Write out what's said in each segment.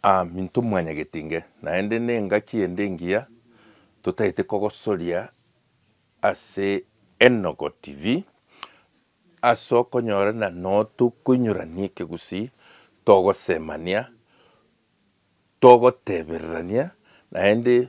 Aminto mwanyagetinge, naende nengaki ende engiya totaete kogosoria ase Enogo TV, ase okonyora na notokoinyorania ekegusii, togosemania, togotebererania, naende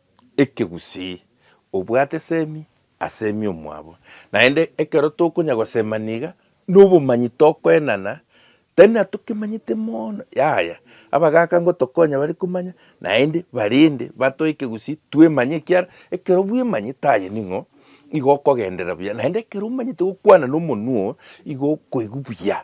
ekegusii, obwate esemi asemi omwabo. Naende ekero tokonya gosema niga nobomanyi tokoenana, tari natokemanyete mono, yaya abagaka ngotokonya bare komanya naende barende batoe ekegusii twemanye ekiara ekero bwemanyete aye ning'o igo okogenderera buya naende ekero omanyete gokwana nomonwa oo igo okoigwa buya.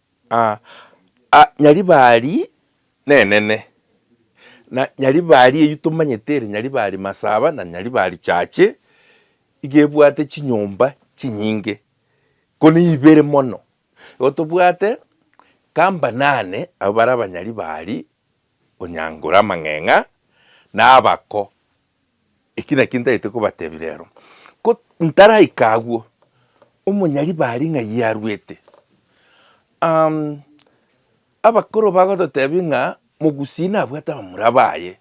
Aa, Nyaribari nenene, na Nyaribari eyio tomanyete ere Nyaribari Masaba na Nyaribari Church, iga ebwate chinyomba chinyinge, ko neibere mono. Igo tobwate kamba nane abwo bare Abanyaribari Onyangura, Amang'eng'a, na Abako. Eki nakio ntagete kobatebia rero, ko ntaraika agwo, omonyaribari ng'a yi arwete, um, abakoro bagototebia ng'a mogusii nabwate abamura baye,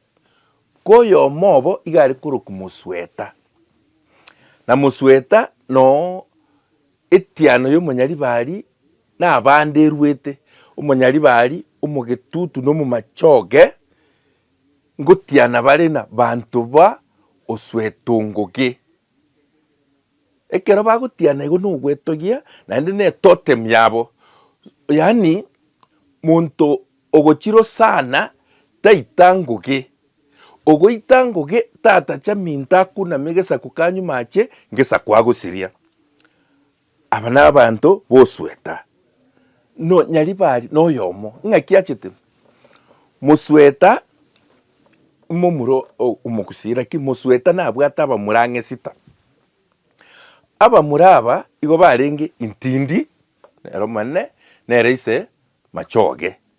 ko oyomo obo iga are korokwa mosweta, na mosweta noo etiano y'omonyaribari na abande erwete, omonyaribari, omogetutu na omomachoge, Ngotiana bare na banto ba oswetongoge. Ekero bagotiana igo nogwetogia naende ne totem yabo. Yaani monto ogochirwo sana taita ngoge. Ogoita ngoge tatacha minto akuname gesaku kanyuma ache gesaku agosiria. Aba nabanto bosweta, nonya ribari noyomo ng'aki achete mosweta momura omogusii, lakini mosweta nabwate abamura ang'e sita. Abamura aba igo barenge intindi nere omonene, nere ise machoge.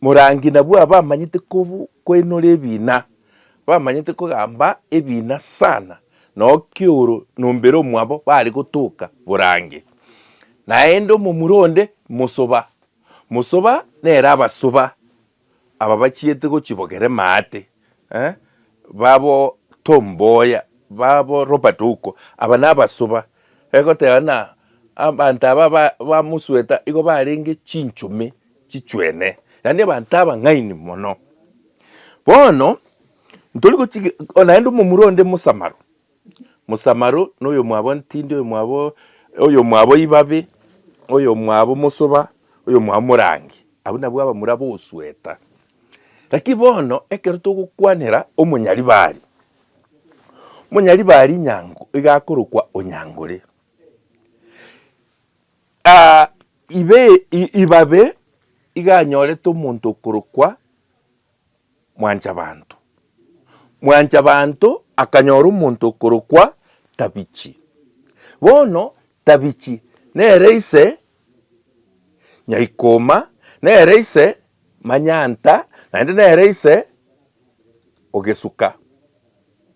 Morangi nabwo abamanyete kobu koinora ebina, bamanyete kogamba ebina sana, nao kioro nombere omwabo bare gotoka borange. Naende omomura onde mosoba, mosoba nere abasoba aba bachiete gochibogera emate, eh, babo Tom Mboya, babo Robert Ouko, aba nabasoba, egoteba ng'a abanto aba ba ba Mosweta igo barenge chinchomei, chichwene, yaani abanto abang'aini mono. Bono ntori gochiki o naende omomura onde mosamaru, mosamaru na oyomwabo ntindi, oyomwabo oyomwabo ibabe, oyomwabo mosoba, oyomwabo morangi, abwo nabwo abamura bosweta. Lakini bono ekero togokwanera omonyaribari, omonyaribari nyango iga akorokwa onyangore. Aa, ibe, i- ibabe iga anyorete omonto okorokwa Mwanchabanto. Mwanchabanto akanyora omonto okorokwa Tabichi. Bono Tabichi nere ise Nyaikoma, nere ise Manyanta, naende nere ise Ogesuka.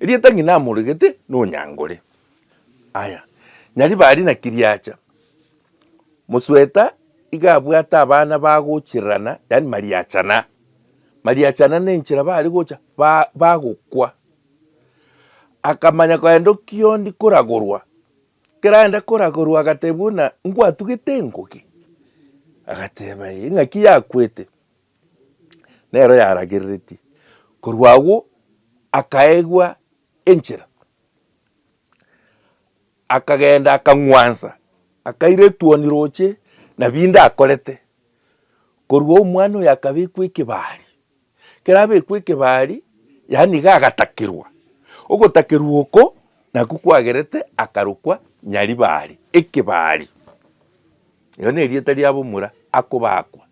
Erieta ng'ina amoregete nonyangore. Aya, Nyaribari na Kiriacha. Mosweta iga abwate abana bagochirerana, yaani mariachana. Mariachana nenchera bare gocha ba bagokwa. Akamanya kogenda okiondi koragorwa, keragenda koragorwa agatebia buna, ngwatugete engogi? Agateba ee, ng'aki yakwete? nero yaragereretie. Korwa agwo akaegwa enchera, akagenda akang'wansa, akaira etuoni roche na binde akorete. Korwa omwana oyo akabekwa ekebari, ekero abekwa ekebari, yaani iga agatakerwa. Ogotakerwa oko nakwo kwagerete akarokwa Nyaribari, ekebari. Ere nerieta riabo omura akobaakwa,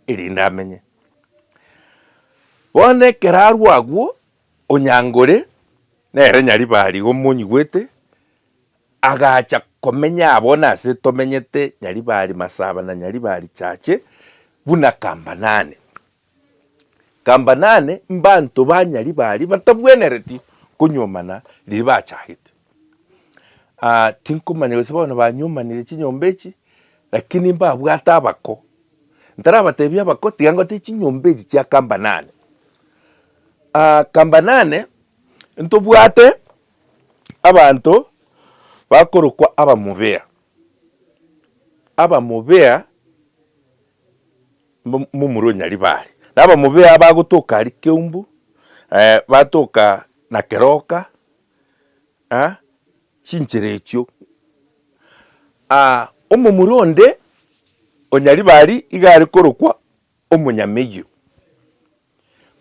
erinde amenye. Bono ekero arwo agwo, onyango ore, nere Nyaribari iga omonyigwete, agacha komenya abwo nase tomenyete Nyaribari masaba na Nyaribari chache buna kambanane. Kamba nane mbanto ba nyari baria batabwenereti konyuomana riria bachagete. Aa tinkomanya gose bono banyuomanire chinyomba echi, lakini mbabwate abako. Ntarabatebia abako tiga ngote chinyomba echi chia kamba nane. Aa kamba nane ntobwate abanto bakorokwa abamobea, abamobea. momura o Nyaribari, na abamobea bagotoka aria Keumbu, batoka na Keroka, chinchera echio. Omomura onde o Nyaribari iga are korokwa Omonyameyio.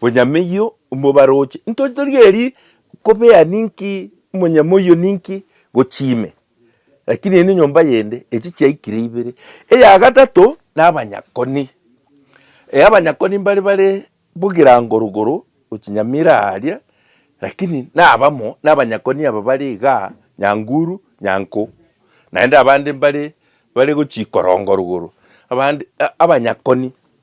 Bonyamoyio mobaroche. Intoche torigerie kobea ninki monyamoyio ninki gochia ime. Lakini eye nenyomba yende, echi chiaikire ibere. Eya gatato nabanyakoni. E abanyakoni mbare bare bogirango rogoro gochinyamira aria, lakini nabamo nabanyakoni aba bare igaa nyanguru, nyanko. Naende abande mbare bare gochia ikorongo rogoro. Abande abanyakoni.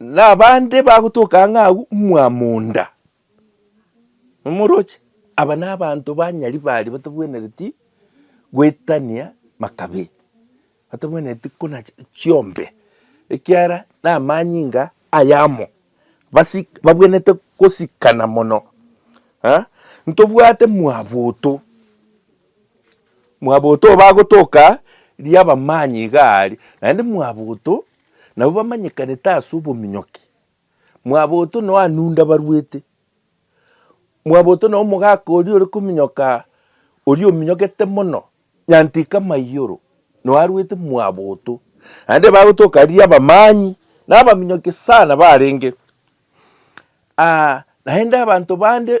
nabande bagotoka ang'e agwo mwamonda, momoroche. Aba nabanto banyari bari batabwenereti goetania makabee, batabwenereti kona chiombe, ekiara namanyinga ayamo, babwenerete gosikana mono. Ntobwate mwaboto, mwaboto oyo bagotoka riabamanyi igaa aria, naende mwaboto nabo bamanyekanete ase obominyoki, mwaboto nao anunda barwete, mwaboto nao omogaka oria ore kominyoka oria ominyokete mono, nyantika amaiyoro nao arwete mwaboto, naende bagotoka riria abamani na abaminyoki sana barenge, naende abanto bande.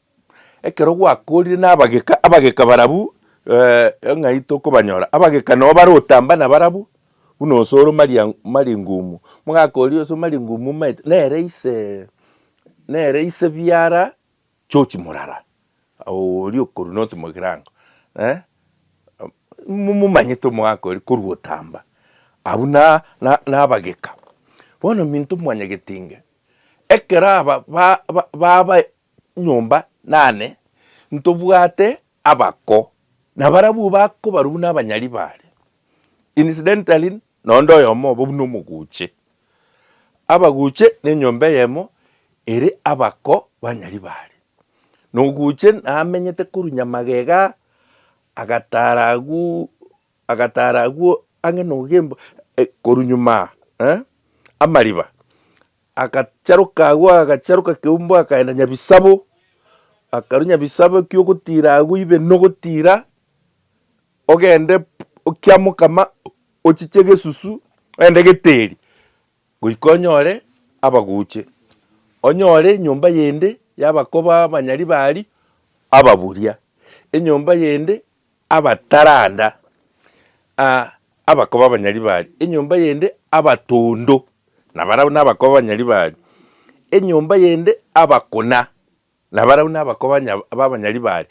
Ekero gwakoorire nabageka, abageka barabwo eh, ng'ai tokobanyora? Abageka noo bare otamba nabarabwo, buna onse ore maria maringumu. Mogakoria onse maringumu omaete, nere ise nere ise biara chochi morara, awo oria okorwa noti mogirango eh, momomanyete omogakoria korwa otamba. Abwo na na nabageka. Bono minto mwanyagetinge, ekero aba ba ba babae. nyomba nane, ntobwate abako, na barabwo bakobarwa buna abanyari baria. Incidentally, nonde oyomo obo buna omoguche. Abaguche nenyomba eyemo ere abako banyari baria. Na oguche namenyete korunya magega, agatara agwo, agatara agwo ang'e nogembo, koru nyuma, eh, amariba, Agacharoka agwo, agacharoka keumbu, akaenda Nyabisabo, akarwa Nyabisabo, ekiya ogotiira agwo ibe nogotiira, ogende okiamokama, ochiche egesusu, ogende geteri, goika onyore abaguche, onyore enyomba yende yabakoba abanyari baria ababuria, enyomba yende abataranda, a abakoba abanyaribari, enyomba yende abatondo, na barabwo nabakoba abanyaribari, enyomba yende abakuna, na barabwo nabakoba nya abanyaribari.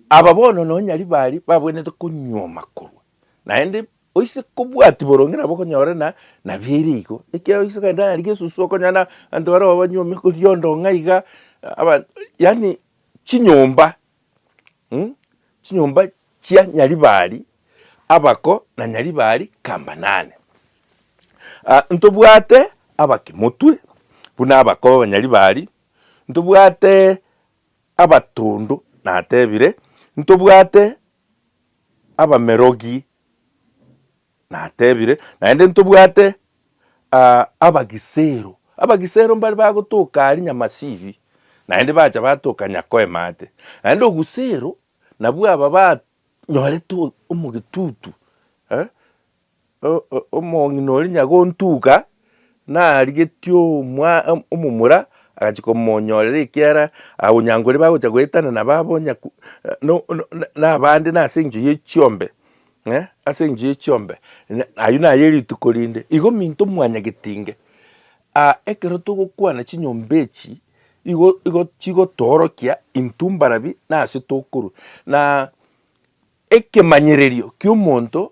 Aba bono nonya nyaribari babwenerete konyuoma korwa naende oise kobwati boronge nabo okonyora na nabere igo, ekiagera oise kogenda nari gesusu okonyora na abanto barabwo banyuomete riondo ng'a iga, aba yaani chinyomba chinyomba chia Nyaribari abako na Nyaribari kamba nane. Ntobwate abakimotwe buna abako b'Abanyaribari, ntobwate abatondo natebire, ntobwate abamerogi. Natebire, Naende ntobwate abagisero. Abagisero mbare bagotoka aria Nyamasibi, naende bacha batoka Nyakoemate. Naende obusero nabwo aba banyorete omogetutu, omong'ina oria Nyagontuga narigetie omomura agachia komonyorera ekiara, onyankoria bagocha goetana nabo abo, na abande nase engencho ye chiombe. Ng'a ase enchera ye chiombe, na ayio naye rituko rinde. Igo minto mwanyagetinge, aa ekero togokwana chinyomba echi, igo igo chigotoorokia intwe mbarabi na ase tokorwa. Na ekemanyererio ki'omonto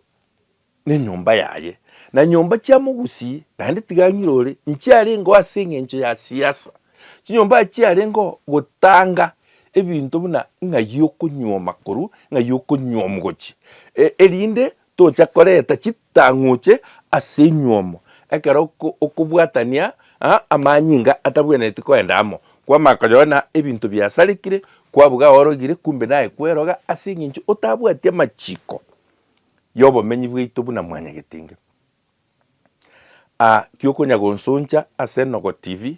nenyomba yaye, na nyomba chia mogusii naende tiga ang'irore, nchiarengeo ase eng'encho ya siasa, chinyomba aya chiarengeo gotanga ebinto buna ng'ai okonyuoma koru ng'ai okonyuomu gochi, erinde tocha koreta chitang'uche ase enyuomo ekero okobwatania amanyinga atabwenereti koenda amo, kwamanya koyoo na ebinto biasarekire, kwabuga aorogire kumbe naye kweroga ase eng'encho otabwati amachiko yobomenyi bwaito buna mwanyagetinga. kiokonya gonsoncha ase Enogo TV,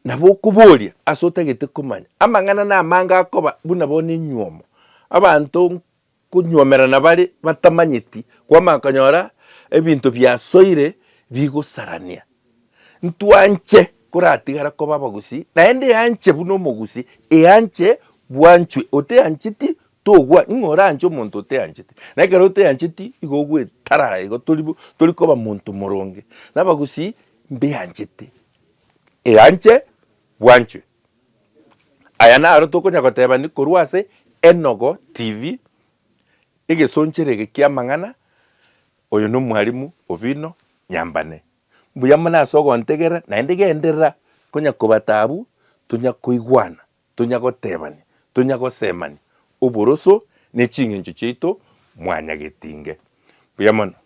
nabo okoboria ase otagete komanya. Amang'ana namange akoba buna bono enyuomo, abanto nkonyuomerana bare batamanyeti, kwamanya konyora ebinto biasoire bigosarania. Ntwanche koratigara koba abagusii, naende eanche buna omogusii eanche bwanchwe oteancheti Togwa ning'o oranche omonto oteanchete, na ekero oteancheti igo ogwetarara igo tori bo tori koba monto moronge. Nabagusii mbeanchete, eanche bwanchwe. Aya naro tokonya gotebani korwa ase Enogo TV, egesonchero ege kiamang'ana, oyo nomwarimu Obino Nyambane. Mbuya mono ase ogontegerera naende genderera konya kobatabu, tonya koigwana Tonya gotebania, tonya gosemania oboroso ne ching'encho chiaito mwanyagetinge. Mbuya mono.